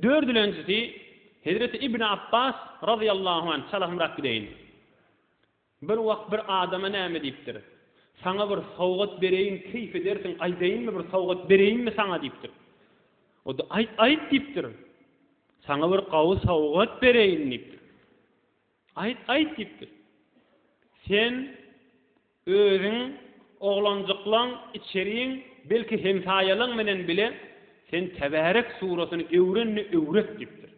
Dördülenjisi, Hezreti Ibn Apbas, razyýallahu anh, çalasmyrak gideýin. Bir wagt bir adama näme diýipdir. Saňa bir sowgat bereýin, keýp edersiň, aýdaýynmy, bir sowgat bereýinmi saňa diýipdir. O-da, Aýt, aýt diýipdir. Saňa bir gawy sowgat bereýin diýipdir. Aýt, aýt diýipdir. Sen Özüň, oglanjyklaň, içeriň, belki hemsaýalaň bilen bile sen Tebärek suratyny öwrenini öwret diýipdir.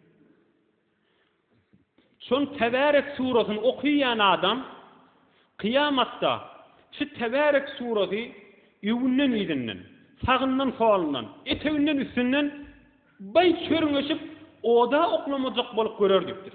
Şon Tebärek suratyny okaýan adam kyýamatda şu Tebärek suraty öwünden-yzynden, sagyndan-solundan, eteginden-üstünden baý çörňeşip oda oklamajak bolup görer diýipdir.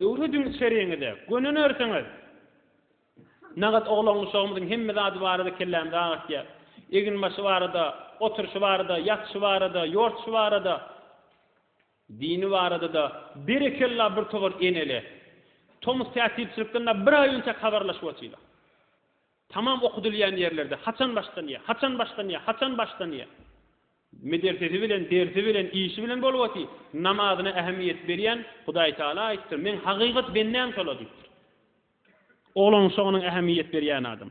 Döwri düňi çeriňize göni nersiňiz? Nagat oglan uşagymyzyň hemme zady barada kellämizi agyrtýar. Eginbaşy barada, oturşy barada, ýatyşy barada, ýortuşy barada, dini barada-da berekella bir towar eneli. Tomus tätirçilikden-de bir aý önçäk habarlaşyp otyla. Tamam okudylýan ýerlerde haçan başlanýa, haçan başlanýa, haçan başlanýa. Medersesi bilen, dersi bilen, işi bilen bolbasy, namazyna ähemmiýet berýän Hudaý Tagala aýtdyr, Meň hakykat bendäm şola diýipdir. Oglan uşagynyň ähemmiýet berýän adam.